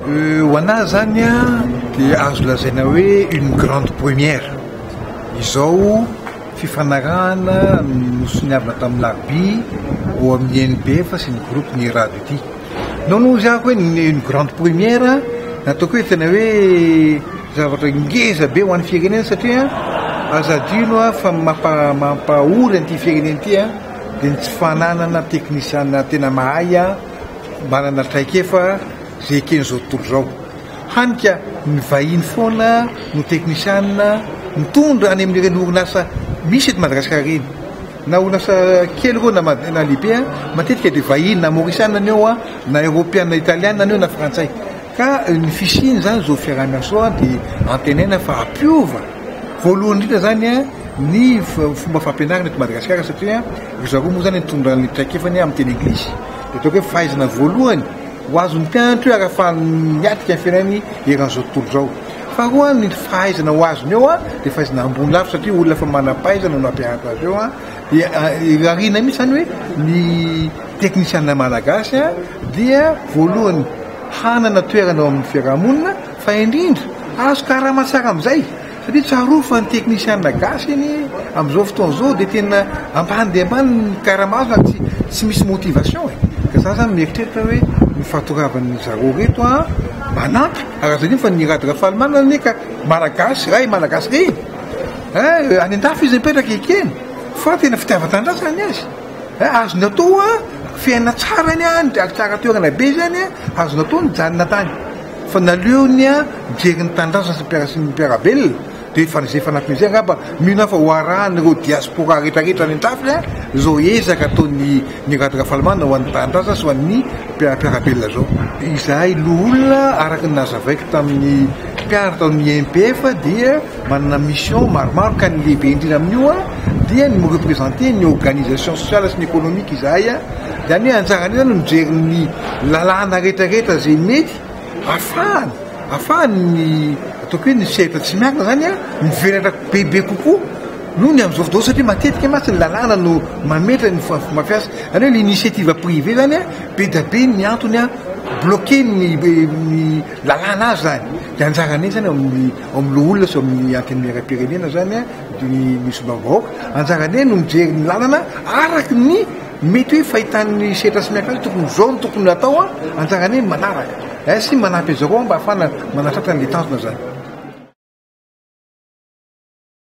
Ho anah zany dia azo lazaina hoe une grande première izao fifanarahana nosoniavina tamin'ny larbi ao amin'ny NBF sy ny groupe ny rado ity. Nao no izy hoe une grande première nataoko hoe tena hoe zavatra ngeza be ho an'ny firenena satria aza adino fa mampahory an'ity firenena ity dia ny tsy fananana teknisiana tena mahay manana traikefa izay eken'izao tontolo izao. Hany ka ny vahiny foana no teknisiana mitondra any amin'ireny orinasa misy eto Madagasikara ireny. Na orinasa kely ireo na lehibe, matetika dia vahiny na maorisiana ny eo, na eropeana italiana ny eo na frantsay. Ka ny fisian' izany izao fiaraha-miasoa dia antenaina fa hampiova voalohany indrindra izany ny fomba fampianarana eto Madagasikara satria ry zareo moa izany nitondra ny traikefany amin'ny teny anglisy. Dia ataoko hoe fahaizana voalohany ho azon'ny mpianatra io ary ahafahany miatrika ny fiainany eran'izao tontolo izao. Faharoa ny fahaizana ho azony eo dia fahaizana ambony lavitra satria olona efa manam-pahaizana no nampianatra azy eo dia irariana mihitsy izany hoe ny teknisiana malagasy dia voalohany hanana toerana eo amin'ny fiarahamonina fa indrindra azo karama tsara amin'izay satria tsarovy fa ny teknisiana gasy anie amin'izao fotoana izao dia tena ambany dia ambany ny karama azony ary tsy tsy misy motivation e ka za zany mieritreritra hoe ny fatoravan'ny zareo reto a manampy ary azo adino fa ny rad rafalimanana anie ka malagasy ray malagasy reny eh any an-dafy izy mipetraka ekeny fa tena fitiavan-tanindrazana ny azy Azony atao a, fiainana tsara any a, ary tsara toerana be izany a, azony atao nijanona tany fa naleony a mijery ny tanindrazana sy ny mpiara sy ny mpiara-belona dia efa izay fanampiny izay angamba mino aho fa ho arahan'ireo diaspora rehetra rehetra any an-trafika izao ezaka ataon'ny ny rad Rafalimanana ho an'ny tanindrazana sy ho an'ny mpiara-belona izao. Izahay loholona araka ny nazavaiko tamin'ny mpiara tao amin'ny MPF dia Manana mission maromaro ka ny lehibe indrindra amin'io dia ny mi-representer ny organisation sociale sy ny économique izahay, izany hoe anjaranay izany ny mijery ny lalàna rehetrarehetra izay mety afahany afahany ny ataoko hoe ny sehatra tsy miankina izany mivelatra bebe kokoa noho ny amin'izao fotoana izao satria matetika mantsy ny lalàna no mametra ny fomba fiasa, izany hoe l'initiative privée izany be dia be ny antony bloquer ny ny lalàna azy izany dia anjaranay izany ao amin'ny Ao amin'ny loholona sy ao amin'ny antenimieram-pirenena izany ny ny solombavambahoaka. Anjarany hoe no mijery ny lalana araka ny mety hoe fahitan'ny setra sy ny akalo tokony izao no tokony atao an! Anjarany hoe manaraka eh sy manampy an'izareo an mba ahafahana manatratra an'ilay tanjona izany.